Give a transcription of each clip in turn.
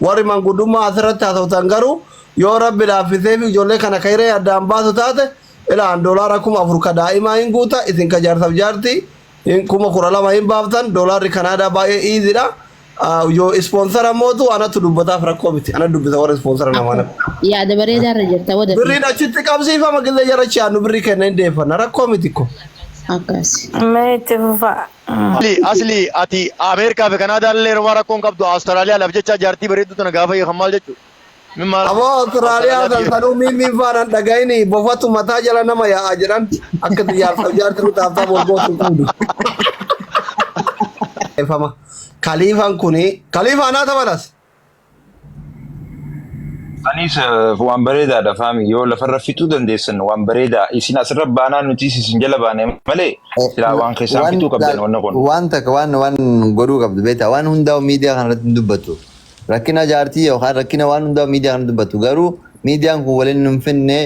Warri manguddummaa asirratti haasoftan garuu yoo rabbi laaffisee fi ijoollee kana kairee addaan baasu taate ilaan doolaara kuma afur ka daa'imaa hin guuta isin ka jaarsaf jaartii hin kuma kudha lama hin baaftan doolaarri kanaadaa baay'ee iizidha yoo ispoonsara mootu anatu dubbataaf rakkoo miti ana dubbisa warra ispoonsara namaa natti Yaada bareedaa irra jirta wada birriin achitti qabsiifama gillee jarachi aannu birrii kenna hin deeffanna rakkoo miti ko akkas. Mee itti fufaa. Mali asli ati America fi Canada illee yeroma rakkon qabdu Australia laf jecha jarti bareeddu tana gaafa hiikan maal jechu? Min maal Aboo Australia Australia san biyya sanuu miimmiin faana hin dhaga'ini bofatu mataa jala nama yaa'a jedhan akka jaarsaaf jaarti nu taaftaaf wal gootu hin qabdu. Efama. Kaliifan kuni kaliifaa naa tabalas. Anis eh, waan bareedaadha faami yoo lafarra fixuu dandeessan waan bareedaa isin asirra baanaan nuti isin jala baane malee silaa waan keessaan Waan fixuu qabdan laal- wanna kun. waan takka waan waan godhuu qabdu beektaa waan hundaa miidiyaa kana irratti hin dubbatu. Rakkina jaartii yookaan rakkina waan hundaa miidiyaa kana dubbatu garuu miidiyaan kun waliin nun finne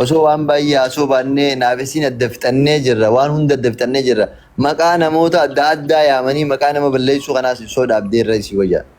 osoo waan baay'ee haasoo baannee naafisiin adda fixannee jirra waan hunda adda fixannee jirra maqaa namoota adda addaa yaamanii maqaa nama balleessuu kanaas ibsoo dhaabdee irra isii wayyaa.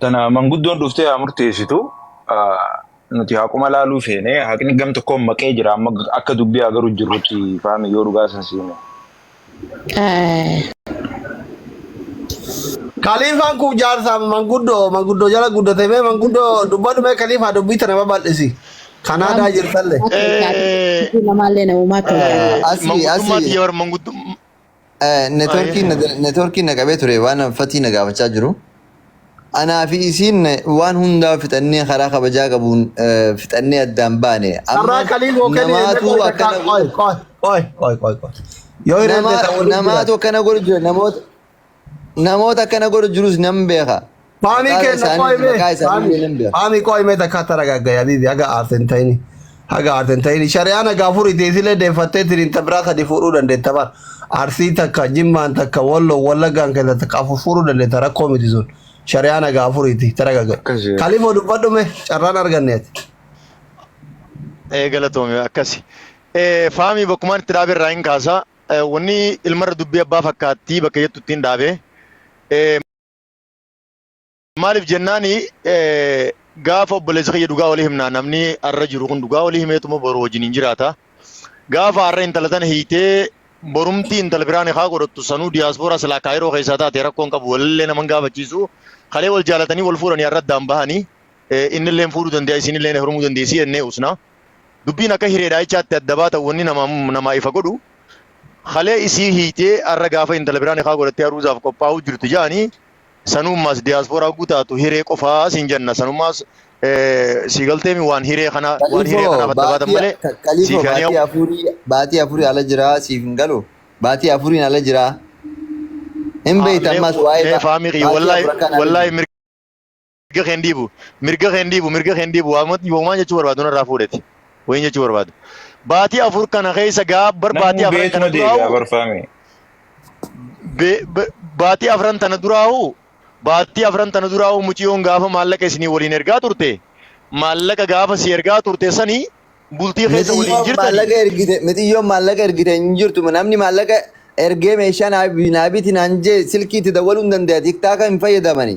Tana manguddoon dhuftee haa murteessitu. Ah, Nuti haquma laaluu feene haqni gam tokkoon maqee jira amma akka dubbii haa garuu jirrutti faami yoo dhugaa san siime. Kaliifaan kun jaarsaa manguddoo manguddoo jala guddate mee manguddoo dubbadhu mee kaliifaa dubbii tana babal'isi. Kan aadaa jirtalle. Namaallee namummaa ta'uu qaba. Eh, Asii, Mangudummaa asii. tiyya warra manguddummaa. Networkiin na- Baay'ee. networkiin na qabee ture waan fatii na gaafachaa jiru. Anaa fi isiin waan hundaa fixannee karaa kabajaa qabuun eh, fixannee addaan baane. Carraa Amma qalii boo kenii namaatu meeqa takka akkana qoy godhu. qoy qoy qoy qoy qoy. Yoo hireen Nama, ta'e waliin jira. namaatu akkana godhu jira. Namoota, namoota akkana godhu jirus nan beeka. Faamii Maqaa kenna isaanii- qo'ime. maqaa isaanii Faamii illee nan beeku. faamii qo'ime takka taragaagga yabibi haga aarten ta'ini. Haga aarten ta'ini. Shari'aan haga afuriiti isilee deeffattee tiriin ta biraa kadi fuudhuu dandeetta bar. Arsii takka, Jimmaan takka, Walloo, Wallaggaan keessa takka afur fuudhuu dandeetta rakkoo miti sun. Shari'aan haga afuriiti taragaagga. Akkasi. Kalifoo dubbadhume carraan arganne ati. ee galatoomi akkasi. Ee, Faamii bakkumaan itti dhaabe irraa hin kaasa. Ee, Wanni ilmarra dubbii abbaa fakkaattii bakka jettu ittiin dhaabe. Ee, Maaliif jennaan gaafa obboleessa kiyya dhugaa walii himnaa namni har'a jiru kun dhugaa walii himeetuma boru wajjin hin jiraata. Gaafa har'a intala tana hiitee borumtii intala biraan haa godhattu sanuu diyaaspooraa silaa kaayiroo keessaa taate rakkoon qabu walillee naman gaafachiisu kalee wal jaalatanii wal fuudhanii har'a addaan bahanii innilleen fuudhuu danda'a isinilleen heerumuu dandeessi jennee usnaa. Dubbiin akka hiree dhaa'ichaatti adda baata wanni namaa namaa ifa godhu kalee isii hiitee arra gaafa intala biraa nikaa godhattee aruuzaaf qophaa'uu jirtu ja'ani sanuummaas diyaaspooraa hogguu taatu hiree qofaa siin janna sanummaas eh, sii galteemi waan hiree kana waan hiree Kalifo kanaaf adda baatan baatii malee ka- kalifo siif yaanii baatii afurii baatii afurii ala jiraa siif hin galu baatii afuriin ala jiraa hin beektu mee ammas waa'ee mee ba- faamii kiyya baatii wallaahi afur akkaan ala wallaahi jiru. mirga mirga keen dhiibu mirga keen dhiibu mirga keen dhiibu waamatti yoomaan jechuu barbaadu narraa fuudheti wayin jechuu barbaadu baatii afur kana keessa gaa bar baatii Namuu afran kana beekuma deebi'aa duraa'u barfaame. be- be- baatii afran tana duraa'u baatii afran tana duraa'u muciyoon gaafa maallaqa isinii waliin ergaa turte maallaqa gaafa si ergaa turte sani bultii keessa waliin Mixiyyoon jirtani maallaqa ergite mixiyyoon maallaqa ergite hin jirtu namni maallaqa ergee meeshaa naa naa biti naan jee silkii itti dawwaluu hin danda'a tiktaaka hin fayyadamani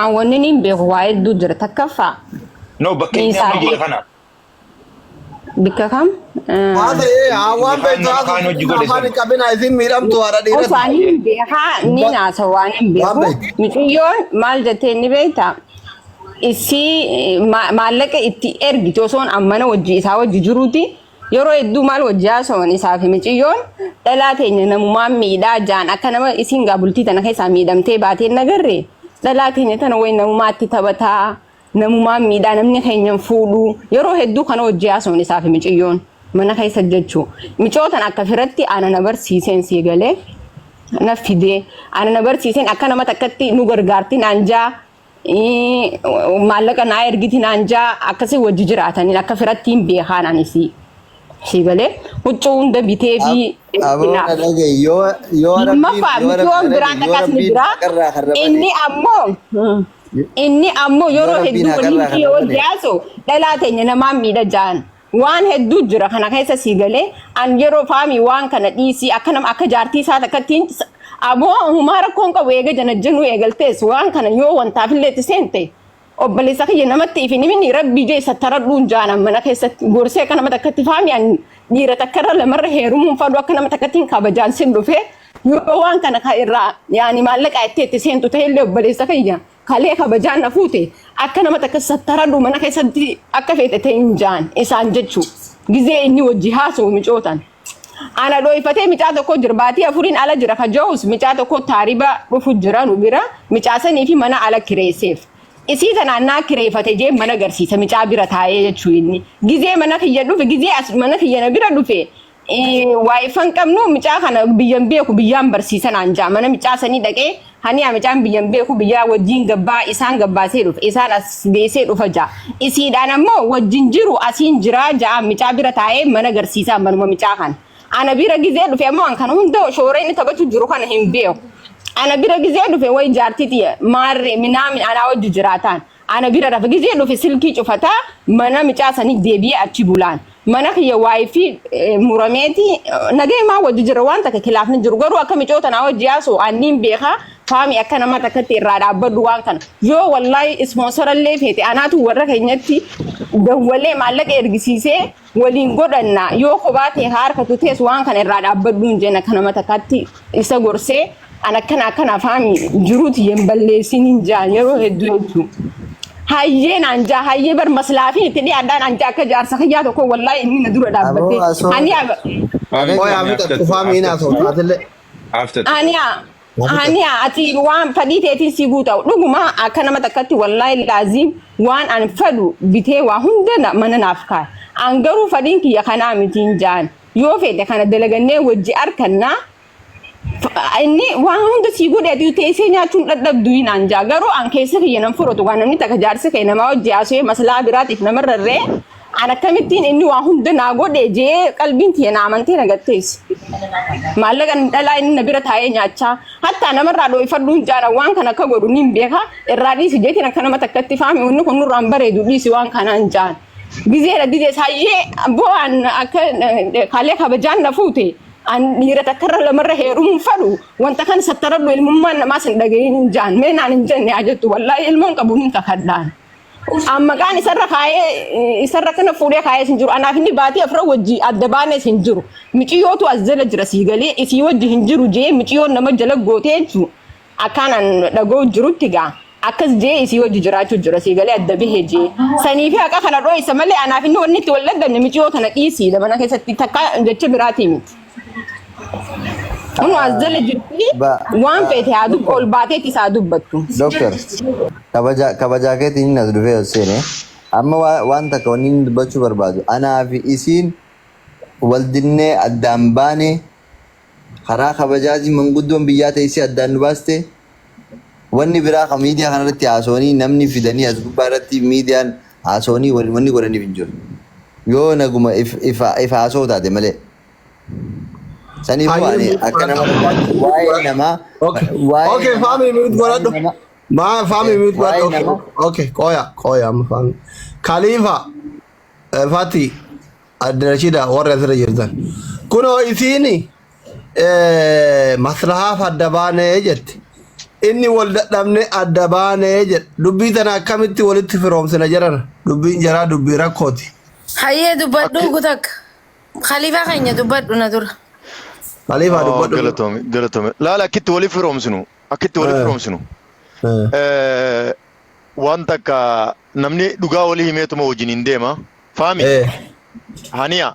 An wanni niin beeku waa hedduu jira takkaffaa No bakka inni amma jira kana. bikka kam Haa ta'ee haa waan Ilkaan beektu nama kaan haasoftu hojii godhe afaan sana. hin qabinaa isin miidhamtu haadha osoo dhiiratti. ani hin beekaa ni naasa waan hin Waan beeku beektu. miciyyoon maal jettee ni beekta isii ma- maallaqa itti ergiti osoon ammana wajji isaa wajji jiruuti Yeroo hedduu maal wajji haasawan isaa fi miciyyoon dhalaa teenya namumaan miidhaa jaan akka nama isiin gaa bultii tana keessaa miidhamtee baateen nagarre dhalaa teenya tana wayi namumaatti taphataa namumaan miidhaa namni keenyan fuudhuu yeroo hedduu kana wajji haasawan isaa fi miciyyoon mana keessa jechuu micootan akka firatti ana na barsiiseen sii galee na fidee ana na barsiiseen akka nama takkatti nu gargaarti naan jaa maallaqa naa ergiti naan jaa akkasii wajji jiraataniin akka firatti hin beekaan anis si galee huccuu hunda bitee fi Aboo na dhagaye yoo yoo rabbiin lammaffaa yoo mitiyoon rabbiin biraan yoo dhaqasni rabbiin biraa haqarraa kan rabate inni ammoo inni ammoo yoo yeroo rabbiin hedduu wal haqarraa hin kan dhiyoo rabate jaaso dhalaa teenya namaan miidha jaan Waan hedduu jira kana keessa sii galee an yeroo faamii waan kana dhiisii akka nama akka jaartii isaa takkattiin aboo humaa rakkoon qabu eega janajjanuu eegaltees waan kana yoo wantaafillee itti seente obboleessa kiyya namatti ifin himini rabbii jee sattaradhuun jaanan mana keessatti gorsee akka nama takkatti faamii an dhiira takkarra lamarra heerumuun fadhu akka nama takkattiin kabajaan sin dhufee yoo waan kana ka irraa yaani maallaqaa itti itti seentu ta'ellee obboleessa kiyya Kalee kabajaan na fuute akka nama takka sattaradhu mana keessatti akka feete ta'in jaan isaan jechu gizee inni wajji haasa'u micootan. Ana dhooyfatee micaa tokko jira baatii afuriin ala jira ka ja'us micaa tokko taariba dhufu jira nu bira micaa sanii fi mana ala kireesseef. Isii tanaan naa kireeffate jee mana garsiisa micaa bira taa'ee jechuu inni. Gizee mana kiyya dhufe gizee as mana kiyya na bira dhufe Waayifan qabnu micaa kana biyyan beeku biyyaan barsiisan anjaa mana micaa sanii dhaqee haniyaa micaan biyyan beeku biyyaa wajjiin gabbaa isaan gabbaasee dhufa isaan as geessee dhufa jaa isiidhaan ammoo wajjin jiru asiin jiraa jaa micaa bira taa'ee mana garsiisaa manuma micaa kana ana bira gizee dhufe ammoo an kana hunda shoora inni taphatu jiru kana hin beeku ana bira gizee dhufe way jaartii tiyya maarree minaamin anaa wajji jiraataan Ana bira rafa gizee dhufe silkii cufata mana micaa sanii deebi'ee achi bulaan. Mana kiyya wifi eh, murameeti eh, nagayumaa wajji jira waan takka kilaafni jiru garuu akka micoo tanaa wajji yaasu anniin beeka faami akka nama takkatti irraa dhaabbadhu waan kana. Yoo wallaahi ispoonsarallee feete anaatu warra keenyatti dawwalee maallaqa ergisiisee waliin godhanna yoo kophaa ta'e haa harkatu tees waan kana irraa dhaabbadhuun jenna kana matakatti isa gorsee an akkana akkana afaami jiruuti hin balleessin hin jaan yeroo hedduu jechuun. Hayyee naan jaa hayyee bar maslaafin itti dhiyaadhaan an jaa akka jaarsa kiyyaa tokko wallaahi inni na dura dhaabbatee. Aboo, asoo. Ani Abeet Qoy Ani Abita, aftatu, Kufami ina aftatu. so, Atile. Aftatu. Ani Ani ati waan fadhii teetiin si guuta'u dhuguma akka nama takkatti wallaahi laaziim waan an fadhu bitee waa hunda na- mana naaf kaa'e. An garuu fadhiin kiyya kanaa mitiin jaan yoo fedhe kana dalagannee wajji arkannaa F- inni waan hunda sii godhe ati teessee nyaachuun dhadhabdu hin an jaa garuu an keessa kiyya nan fudhatu waan namni takka jaarsa kee namaa wajji haasawee maslaa biraatiif namarrarree An akkamittiin inni waa hunda naa godhe jee qalbiin tiyya na amantee na gatteessi. Maallaqa dhalaa inni na bira taa'ee nyaachaa hattaa namarraa dhooyfadhuun jaara waan kana akka godhu niin beeka irraa dhiisi jeetiin akka nama takkatti faami wanni kun nurraan bareedu dhiisi waan kanaan jaan. Gizeera didee saayyee abboo an akka eh, kaalee kabajaan na fuute an dhiira takkarra lamarra heerumuun fadhu wanta kan sattaradhu ilmummaan namaas hin dhaga'iin hin jaan mee naan hin jenne haa jettu wallaahi ilmoon qabu niin kakadhaan. An maqaan isarra kaa'ee isarra kana fuudhee kaa'ees hin jiru. Anaaf inni baatee afra wajji adda baanees hin jiru. Miciyootu as jala jira sii galee isii wajji hin jiru jee miciyoon nama jala gootee jechuun akkaan an dhagoo jirutti gaa akkas jee isii wajji jiraachuu jira sii galee adda bahe jee. Saniifi haqa kana dhooysa malee anaaf inni wanni itti wal dhagganne miciyoo tana dhiisiidha mana keessatti takka jecha biraatii miti. Kun as jala jirti Ba, waan ah, feete haa dubbattu ol doctor, baateetti isaa dubbattu. doctor, kabaja, kabaja keetiin hin as dhufee as seene. Amma wa- waan takka wanni inni dubbachuu barbaadu. Anaa fi isiin wal dinnee addaan baane karaa kabajaatiin manguddoon biyyaa teessee addaan nu baaste Wanni biraa kan miidiyaa kanarratti haasawanii namni fidanii as gubbaa irratti miidiyaan haasawanii wanni godhaniif hin jiru. Yoo naguma if haasawu taate malee. Saniifuu ani akka nama waa'ee namaa waa'ee faamii miit godhadhu. Maa faamii miit godhadhu. Okay, qooya qooya amma faamii. Kaliifa Fati Addarashida warra asirra jirtan. Kunoo isiini eh, maslahaaf adda baanee jette. Inni wal dadhabne adda baanee jedhe. Dubbii tana akkamitti walitti firoomsina jedhana. Dubbiin jaraa dubbii rakkooti. Hayyee dubbadhu Akki- gutakka. Khaliifaa keenya dubbadhu na dura. Khaliifaa Oh, dubbadhu. galatoomi galatoomi laala akkitti waliif firoomsinu akkitti waliif Eh. firoomsinu Eh, Eh, waan takka namni dhugaa walii himeetuma wajjin hin deema faami eh, haniya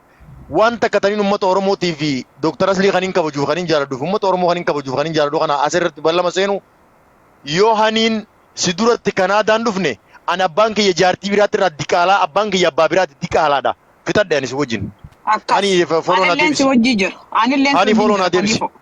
Waan takka taniin ummata Oromootii fi Dooktar Aslii kanin kabajuuf kanin jaaladhuuf ummata Oromoo kanin kabajuuf kanin jaaladhu kana as irratti ballama seenu yoo haniin si duratti Kanaadaan dhufne an abbaan kiyya jaartii biraatti irraa diqaalaa abbaan kiyya abbaa biraatti diqaalaadha fixadhe ani si wajjin. Akkas. Ani follow naa Anilleen si deebisi. wajjii jira. Anilleen si Ani wajjin follow jira. naa deebisi. Kaniifuu.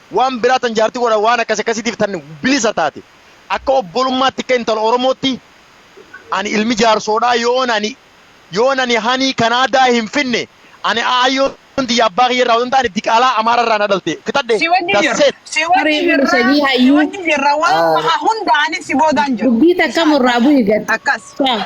waan biraa tan jaartii godhan waan akkas akkasiitiif tan bilisa taate akka obbolummaatti akka intala oromootti ani ilmi jaarsoodhaa yoon ani yoon ani hanii kanaadaa hin finne ani aayyoon tiyya abbaa kiyya irraa odon taane diqaalaa amaara irraa na dhalte fixadhe Si wajjin jirra. dasseet Si wajjin Tarii jirra. isa hii Si hayyuu. wajjin jirra. Waan baha hunda ani si boodaan jiru. Dubbii takka murraa bu'i gad. Akkas. Taa.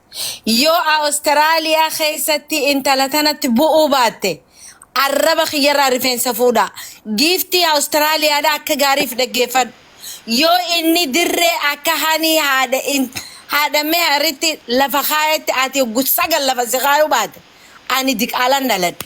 Yoo Australia keessatti intala tanatti bu'uu baatte arraba kiyyarraa rifeensa fuudha. Giiftii Australia dha akka gaariif dhaggeeffadhu. Yoo inni dirree akka hanii haadha in haadha meharitti lafa kaayetti ati oggu sagal lafa si kaayuu baate ani diqaalan dhaladhe.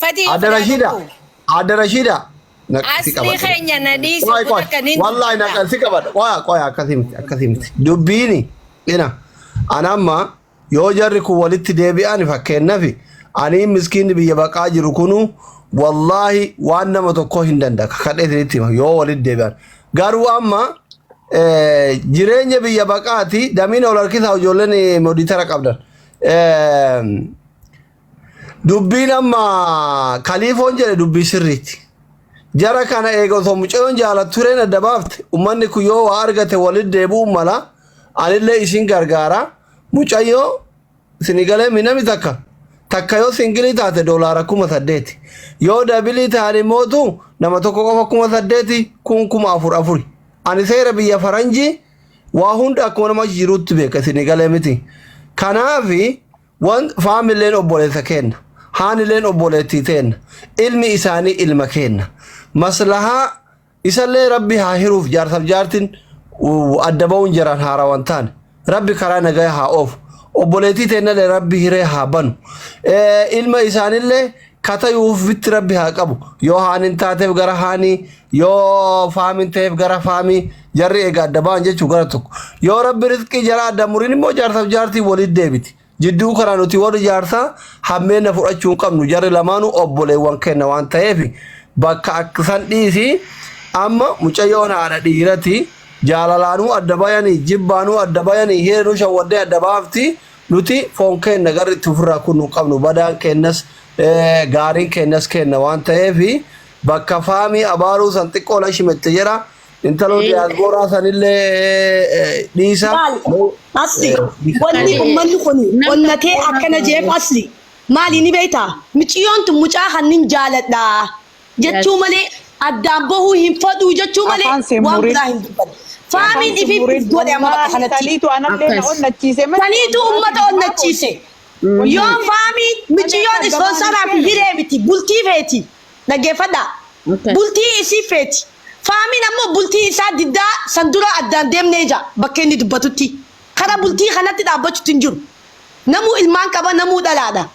Fatii yoo Adda Rashiida. badhaadhuu. Adda Rashiida. Na- si Asrii qabadha. keenya na dhiisi, Qoy, kun qoy. akka inni hin Wallahi na dubbata. si qabadha. Qoya qoya akkasii miti akkasii miti. Dubbiini. Ina. Ana amma yoo jarri kun walitti deebi'an fakkeenyaaf ani miskiinni biyya baqaa jiru kunu wallahi waan nama tokko hin danda'a. Kadhee isinitti hima yoo walitti deebi'an. Garuu amma eh, jireenya biyya baqaati damiin ol harkisaa ijoolleen eh, moditara qabdan. Eh, Dubbiin amma kaliifoon jedhe dubbii sirriiti. Jara kana eega osoo mucayoon jaalattu tureen adda baafte ummanni kun yoo waa argate walitti deebi'uun mala anillee isin gargaara mucayyoo sini galee minami takka takka yoo singilii taate doolaara kuma saddeeti yoo dabilii taate mootu nama tokko qofa kuma saddeeti kun kuma afur afuri ani seera biyya faranjii waa hunda akkuma nama jiruutti beeka sini galee miti kanaafi Wan faamilleen obboleessa keenna, haanileen obboleettii teenna, ilmi isaanii ilma keenna. Maslahaa isallee rabbi haa hiruuf jaarsaf jaartin uh, adda ba'uun jaraan haarawan taane. Rabbi karaa nagaya haa oofu. Obboleettii teennallee rabbi hiree haa banu. Eh, Ilma isaanillee ka tayu uffitti rabbi haa qabu yoo haanin taateef gara haanii yoo faamin ta'eef gara faamii jarri egaa adda ba'an jechuu gara tokko yoo rabbi rizqii jara adda murin immoo jaarsaaf jaartii walitti deebiti jidduu kana nuti warri jaarsaa hammeenna fudhachuu hin qabnu jarri lamaanuu obboleewwan kenna waan ta'eef bakka akkisan dhiisi amma mucayyoon haadha dhiirati jaalalaanuu adda bayanii jibbaanuu adda bayanii hireenuu shawwaddee adda baafti Nuti foon keenna garri itti ufirraa kunnu hin qabnu, badaan keennas, gaariin keennas keenna waan ta'eef, bakka Faamii abaaruu san xiqqoo lashi mette jedha, intaloo diyaasbooraa sanillee dhiisa. Laal Asli, wanni ummanni kun onnatee akkana je'eef Asli, maali ni beeytaa? Miciyyoon tun mucaa kan nin jaaladha, jechuu malee addaan bahuu hin faduu jechuu malee Afaan seen waan murin. biraa hin dubbanne. Faamiin ifi itti godhe amma bakka kanatti. Saniitu anallee na Akkas. onnachiise malee. Saniitu uummata onnachiise. Yoo faamiin miciyyoon ispoonsaraa fi hiree miti bultii feeti. Dhaggeeffadhaa. Akkas. Bultii isii feeti. Faamiin ammoo bultii isaa diddaa san dura addaan deemnee jaa bakka inni dubbatutti. Kara bultii kanatti dhaabbachuutti hin jiru. Namuu ilmaan qaba namuu dhalaadha.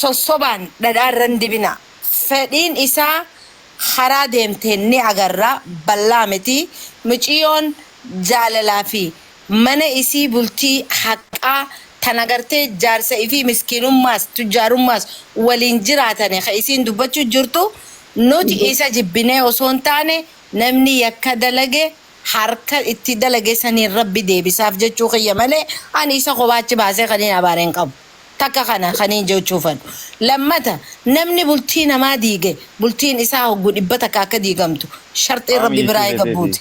sossobaan dhadhaa irra hin dibinaa. Fedhiin isaa karaa deemteen ni agarra ballaa miti. Miciyoon jaalalaa fi mana isii bultii haqqaa tan agartee jaarsa ifii miskiinummaas tujjaarummaas waliin jiraatane ka isiin dubbachuu jirtu nuti isa jibbinee osoo hin taane namni yakka dalage harka itti dalage saniin rabbi deebisaaf jechuu kiyya malee ani isa kophaa achi baasee kaniin abaare hin qabu. Takka kana kaniin jechuu fadhu. Lammata namni bultii namaa diige bultiin isaa hoggu dhibba takka akka diigamtu sharxiin Rabbi biraa eegabbuuti.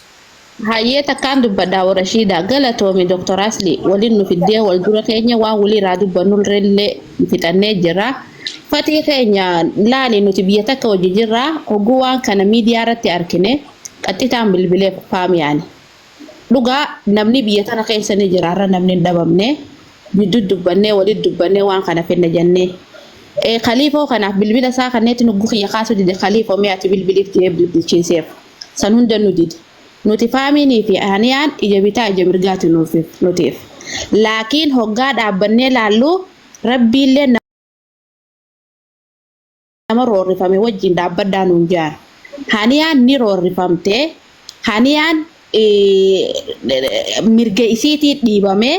Hayyee takkaan dubbadha Awo Rashiida. Galatoomi Dr. Asli walin nu fiddee wal dura keenye waan wali iraa dubbannulrelle fixannee jirra. Fatii keenya laali nuti biyya takka wajji jirra hoggu waan kana midiyaa irratti arkine qaxxitaan bilbile Faamiyaani. Dhugaa namni biyya tana keessa ni jira har'a namni hin dhabamne jidduu dubbannee walitti dubbannee waan kana finna jennee. Eh, Khaliifoo kanaaf bilbila isaa kanneetti nugguu kiyya kaasuu dide Khaliifoo mee ati bilbiliif jedhee bilbilchiiseef. San hunda nu dide. Nuti faamiinii fi haniyaan ija bitaa ija mirgaati nuuf nutiif. Laakiin hoggaa dhaabbannee laallu rabbiillee nama roorrifame wajjin dhaabbadhaa nuun jaan. Haniyaan ni roorrifamte. Haniyaan mirga isiitii dhiibamee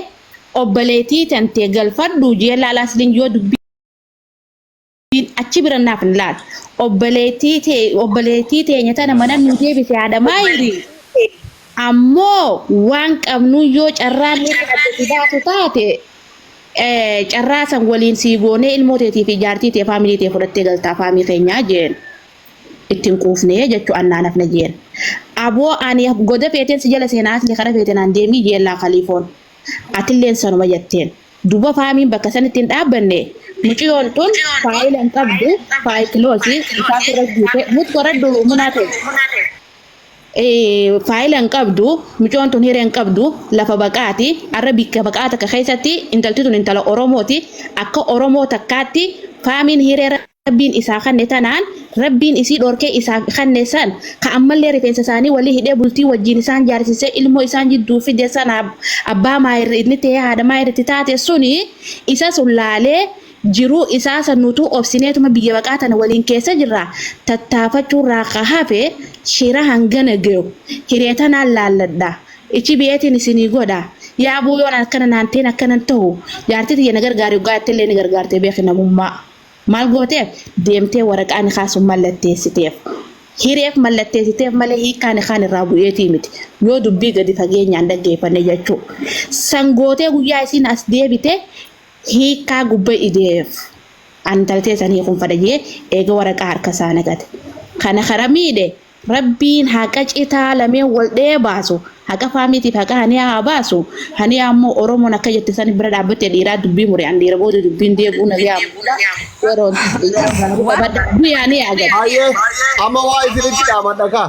obboleetii tantee galfadhuu jee laala asliin yoo dubbiin achi bira naaf hin laal. Obboleetii tee obboleetii teenya tana mana nuu deebise haadha maayirii. Ammoo waan qabnuun yoo carraan nuti adda si baasu taate carraa san waliin sii goonee ilmoo teetii fi jaartii tee faamilii tee fudhattee galtaa faamii keenyaa jeen ittiin quufnee jechuu annaan hafne jeen aboo ani goda feeteen si jala seenaa atlee kara feete naan deemii jeen laa kaliifoon atilleen sanuma jetteen duba faamiin bakka san ittiin dhaabbanne muciyoon tun faayila hin qabdu faayikiloosi isaa sirra guute mut koradhu munaa tee faayila hin qabdu micoon tun hiree hin qabdu lafa baqaati arra bikka baqaa takka keessatti intalti tun intala oromooti akka oromoo takkaatti faamiin hiree rabbiin isaa kanne tanaan rabbiin isii dhorkee isaa kanne san ka ammallee rifeensa isaanii walii hidhee bultii wajjiin isaan jaarsisee ilmoo isaan jidduu fide sana abbaa maayirri inni ta'ee haadha maayirri itti taate suni isa sun laalee Jiruu isaa san nutuu obsineetuma biyya baqaa tana waliin keessa jirraa tattaafachuurraa ka hafe shira hangana geyu hiree tanaan laalladha ichi biyeetiin isinii godha yaa aboo yoon akkana naan ta'in akkanan tahu jaartii tiyya na gargaari oggaa jettellee ni gargaarte beeki namummaa maal gooteef deemtee waraqaa nikaa sun mallatteessiteef hireef mallatteessiteef malee hiikkaa nikaan irraa bu'eetii miti yoo dubbii gadi fageenyaan dhaggeeffanne jechuu san gootee guyyaa isiin as deebite Hiikkaa gubba ideef an tal teessan hiikun fadha jee eega waraqaa harka isaa naqate. Kana kara miidhe rabbiin haqa citaa lameen wal dhee baasu haqa faamiitiif haqa haniyaa haa baasu haniyaa ammoo oromoon akka jette san bira dhaabbatte dhiiraa dubbii mure an dhiira booda dubbiin deebi'uu na biyaa muudha yeroon isaa gaarii qabadha du'i haniyaa gad. Hayyee amma waa isinitti dhaamadha kaa.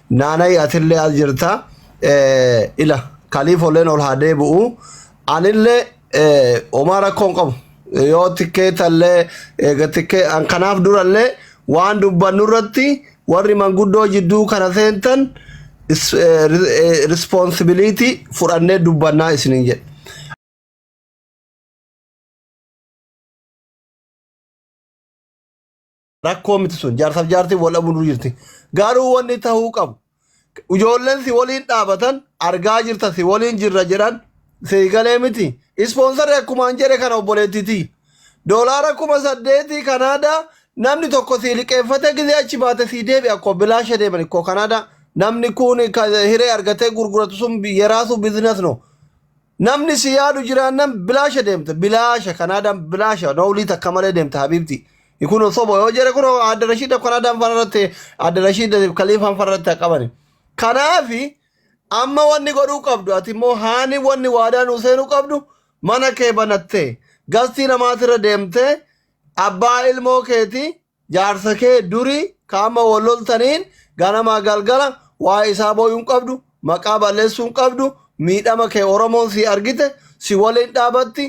Naanay atillee as jirta Eh, ila kaliifolleen ol haa deebi'u anillee eh, homaa rakkoo hin qabu yoo tikkeetallee eega tikkee an kanaaf durallee waan dubbannu irratti warri manguddoo jidduu kana seentan is- eh, ri- eh, responsibility fudhannee dubbannaa isiniin jedhe rakkoo miti sun jaarsaaf jaartiin wal dhabuu dura jirti garuu wanni ta'uu qabu ijoolleen si waliin dhaabatan argaa jirta si waliin jirra jedhan si galee miti ispoonsarri akkumaan jedhe kana obboleettiiti doolaara kuma saddeetii kanaadaa namni tokko si liqeeffate gizee achi baate si deebi akkoo bilaasha deeman ikkoo kanaadaa namni kun ka- hiree argatee gurguratu sun yeraasu bizinas no Namni si yaadu jiraannan bilaasha deemta. Bilaasha Kanaadaan bilaasha noolii takka malee deemta habiibti. Kun soba yoo jedhe kun adda rashiidaf Kanaadaan fara irratti adda rashiidaf kaliifaan fara irratti haa qabani. Kanaafi amma wanni godhuu qabdu ati immoo haani wanni waadaa nuu seenuu qabdu mana kee banattee gastii namaatirra deemtee abbaa ilmoo keetii Jaarsa kee durii ka amma wol loltaniin ganamaa galgala waa'ee isaa booyuu hin qabdu, maqaa balleessuu hin qabdu, miidhama kee Oromoon sii argite, si woliin dhaabatti,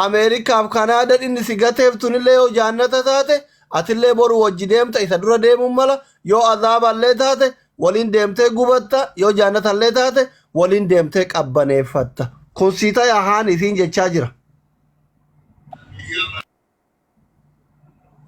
Ameerikaa fi Kanaadaan inni si gateef tunillee yoo jaannata taate, atillee boru wojji deemta isa dura deemuun mala, yoo azaaballee taate woliin deemtee gubatta, yoo jaannatallee taate woliin deemtee qabbaneeffatta. Kun sii tayaa haani isiin jechaa jira.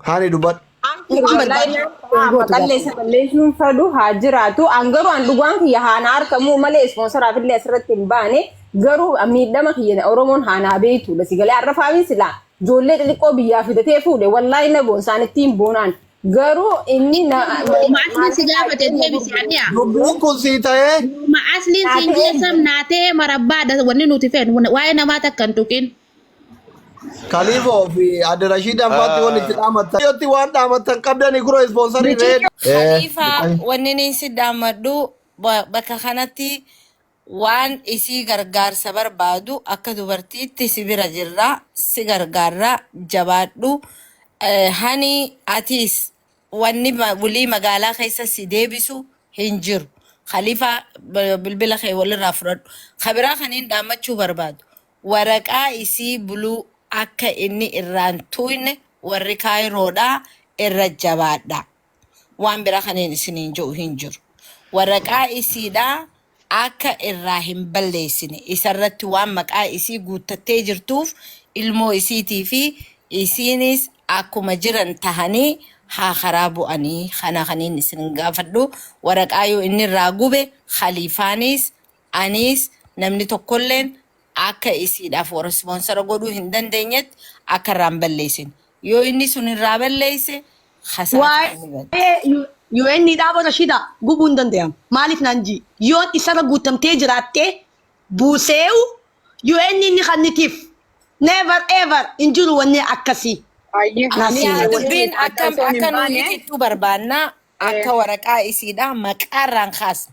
Haani dubbadhu. Amshir Waan wallahi barbaadu. naan Waan haa gootu maqallee isa balleessuun fadhu haa jiraatu. An garuu an dhugaan kiyya haa na argamu malee ispoonsaraaf illee asirratti hin baane. Garuu an miidhama kiyya Oromoon haa naa beektu. Basi galee har'a faamiin silaa ijoollee xixiqqoo biyyaa fidatee fuudhe wallahi na boonsa an ittiin boonaan. Garuu inni na Yooma asliin si gaafate deebisi adhiya. Dubbiin kun sii ta'ee Yooma asliin siin jeessam naa ta'e marabbaadha wanni nuti feenu waa'ee namaa takka hin tuqin. Kaliifoo fi Adde Rashiid Anfaatti wal itti dhaamattan. Yotti waan dhaamattan qabdanii kuro ispoonsarii reed. Khalifa wanni ni si dhaammadhu ba- bakka kanatti waan isii gargaarsa barbaadu akka dubartiitti si bira jirra si gargaarra jabaadhu Eh, hani atiis wanni ma- bulii magaalaa keessa si deebisu hin jiru Khalifa b- bilbila kee walirraa fudhadhu kabiraa kaniin dhaammachuu barbaadu Waraqaa isii buluu akka inni irraan tuuyne warri kaayiroodhaa irra jabaadhaa. Waan bira kaniin isiniin je'u hin jiru. Waraqaa isiidhaa akka irraa hin balleessine isarratti waan maqaa isii guuttattee jirtuuf ilmoo isiitii fi isiiniis akkuma jiran tahanii haa karaa bu'anii. Kana kaniin isin gaafadhu waraqaa yoo inni irraa gube khaliifaaniis Aniis namni tokkolleen akka isiidhaaf warra ispoonsara godhuu hin dandeenyetti akka irraa hin balleessin. Yoo inni sun irraa balleesse kasaaraan ni bada. Waa'ee UN dhaabota shida gubuu hin danda'amu. Maaliif naan ji? Yoon isarra guuttamtee jiraatte buuseewu UN ni kannitiif. Never ever hin jiru wanni akkasii. Ayyee Naa Ani seenaa. Anis dubbiin adda akka osoo hin akka nuyi baane itittuu barbaanna akka waraqaa isiidha maqaarraan kaasna.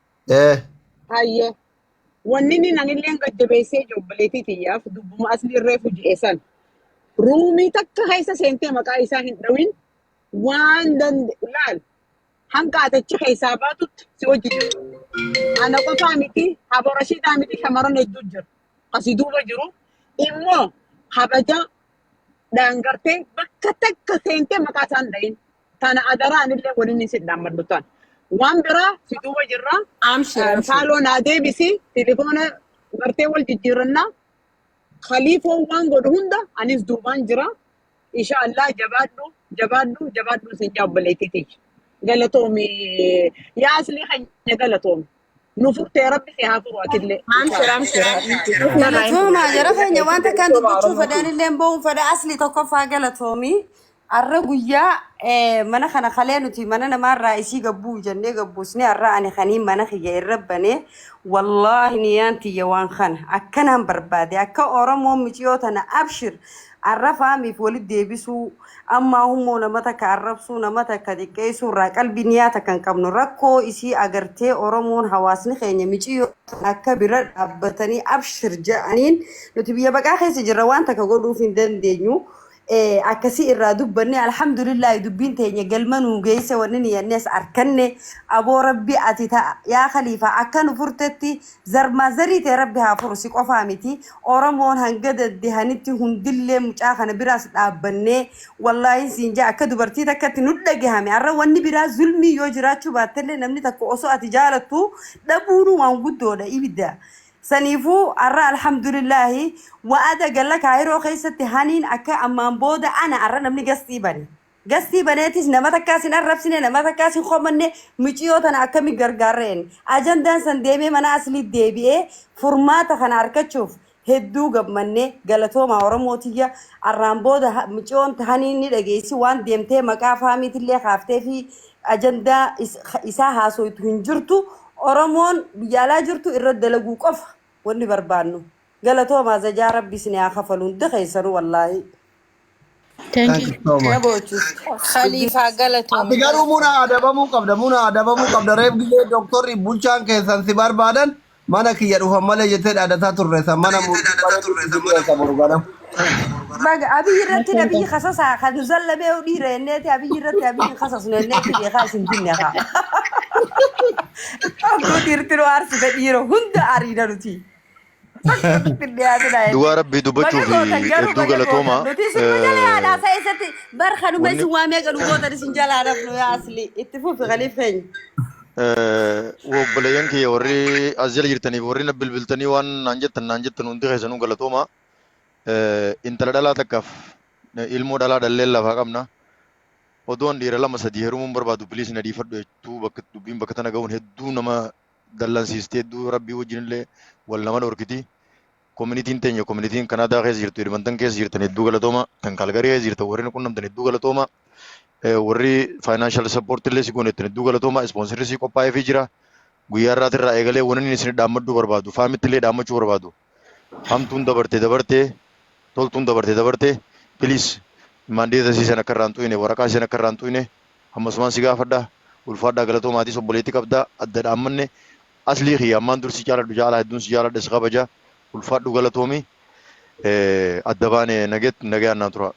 Ee. Hayyee. Wanni inni nanillee gajjabeessee jiru obboleettii tiyyaaf dubbuma asli irree fuji'e san. Ruumii takka keessa seentee maqaa isaa hin dhawin waan dande laal hanga atachi keessaa baatutti si wajji jiru. Ana qofaa miti habo rashiidaa miti shamaran hedduu jiru. Asi duuba jiru immoo habaja dhaangartee bakka takka seentee maqaa isaan dhayin. Tana adaraa anillee waliin si dhaammadhu tan. Waan biraa si duuba jirra. Amshir amshir. Faaloo naa deebisi tilifoona gartee wal jijjiirannaa. Khaliifoo waan godhu hunda anis duubaan jira. Insha Allah jabaadhu jabaadhu jabaadhu sin jaa obboleettii tiyya. Galatoomi yaa asli keenya galatoomi. nu furtee rabbi si haa furu atillee Amshir amshir habiibti dhufna irraa hin Galatoomaa fuudhina jara keenya waan takkaan Oromoo dubbachuu Oromoo fedhaan illee ba'uun fedha asli tokkoffaa galatoomii har'a guyyaa eh, mana kana kalee nuti mana namaarraa isii gabbuu jennee gabbuusni har'a ani kanii mana kiyya irra banee wallaahi niyaan tiyya waan kana akkanaan barbaade akka Oromoo miciyoo tana abshir Arrafaa miif walit deebisuu ammaa hummoo nama takka arrabsuu nama takka xiqqeessuu irraa qalbii niyaa takka hin qabnu rakkoo isii agartee oromoon hawaasni keenya miciyyoo tana akka bira dhaabbatanii abshir ja'aniin nuti biyya baqaa keessa jirra waan takka godhuuf hin dandeenyu akkasii irraa dubbanne alhamdulillaahi dubbiin teenya galma nuu geesse wanni niyyannes arkanne aboo rabbi ati ta yaa kaliifaa akka nu furtetti Zarmaa zarii tee rabbi haa furu si qofaa miti oromoon hanga dadehanitti hundillee mucaa kana biraas dhaabbannee wallaahin siin jaa akka dubartii takkatti nut dhagahame arra wanni biraa zulmii yoo jiraachuu baattellee namni takka osoo ati jaalattu dhabuunuu waan guddoodha ibidda saniifuu arra alhamdulillaahi wa'ada galla kaayiroo keessatti haniin akka ammaan booda ana arra namni gastii bane Gastii baneetis nama takkaas hin arrabsine, nama takkaas hin komanne, miciyoo tana akkami gargaarra jenne. Ajandaan san deemee mana aslii deebi'ee furmaata kana arkachuuf hedduu gammanne. Galatoomaa Oromoo tiyya. Arraan booda ha- miciyoon tahanii ni dhageessi waan deemtee maqaa faamiitillee kaaftee fi ajandaa is- isaa haasoytu hin jirtu. Oromoon biyya alaa jirtu irra dalaguu qofa wanni barbaannu. Galatoomaa zajaa rabbi isin haa kafalu hundi keessanuu wallaahi. Thank Thank you you. so Kana much. boochu. Dubbii Khaliifaa Ati galatoomi garuu muna galatoomi. adabamuu qabda muna adabamuu qabda reef gisee doktorri bulchaan keessan si barbaadan mana kiyya dhufan malee jettee dhaadataa turre san mana murtii bareedu si dhiyeessa boru ganam. Baga abiyyi irratti Galatoomi. abiyyi kasasaa kan nu zallabee dhiira jenneeti abiyyi irratti abiyyi hin kasasnu jenneeti beekaa isin binne haa. Abduu dhiirti nu aarsite dhiira hunda ariina nuti. Akkasitti hin dhiyaatinaa Dhugaa jechuudha. rabbii dubbachuu Baga fi gootan garuu hedduu baga gootan. galatoomaa. Nuti isin nu jala yaada Eh, haasa'e isatti bar kanuma Wanni isin waamee gadu gootan isin jala haadhafnu yaa asli. Itti fufi kaliif keenya. eh, obboleeyyan kiyya warri as jala jirtaniif warri na bilbiltanii waan naan jettan naan jettan hundi keessanuu galatoomaa. Eh, Intala dhalaa takkaaf eh, ilmoo dhalaa dhalleen lafaa qabna. Odoon dhiira lama sadii heerumuun barbaadu biliis na dhiifadhu jechuu bakka dubbiin bakka tana ga'uun hedduu nama dallansiisti hedduu rabbii wajjin illee wal nama dhorkiti. Kominitiin teenya kominitiin Kanaadaa keessa jirtu Edmonton keessa jirtan hedduu galatooma tan Kaalgarii keessa jirtan warri nu qunnamtan hedduu galatooma warri faayinaanshal sappoortii illee si goonettan hedduu galatooma ispoonsirri si qophaa'eefii jira guyyaa irraatirraa eegalee waniin isin dhaammaddu barbaadu faamitti illee dhaammachuu barbaadu hamtuun dabarte dabarte toltuun dabarte dabarte piliis maandeeta siisan akka irraan xuyne waraqaa siisan akka irraan xuyne hammasumaan si gaafadha ulfaadhaa galatoo maatii obboleetti qabda adda dhaammanne aslii kiyya ammaan dur si caaladhu caalaa hedduun si caaladha si kabaja ulfaadhu galatoomi adda baane naget nagayaan naa tura.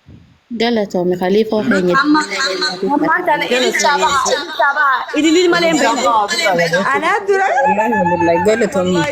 Galatoomi kaliifoo keenya. Ammaan tana ililchaa baha ililchaa baha ililil malee hin beekne. Anaa dura. Alhamdulillah galatoomi.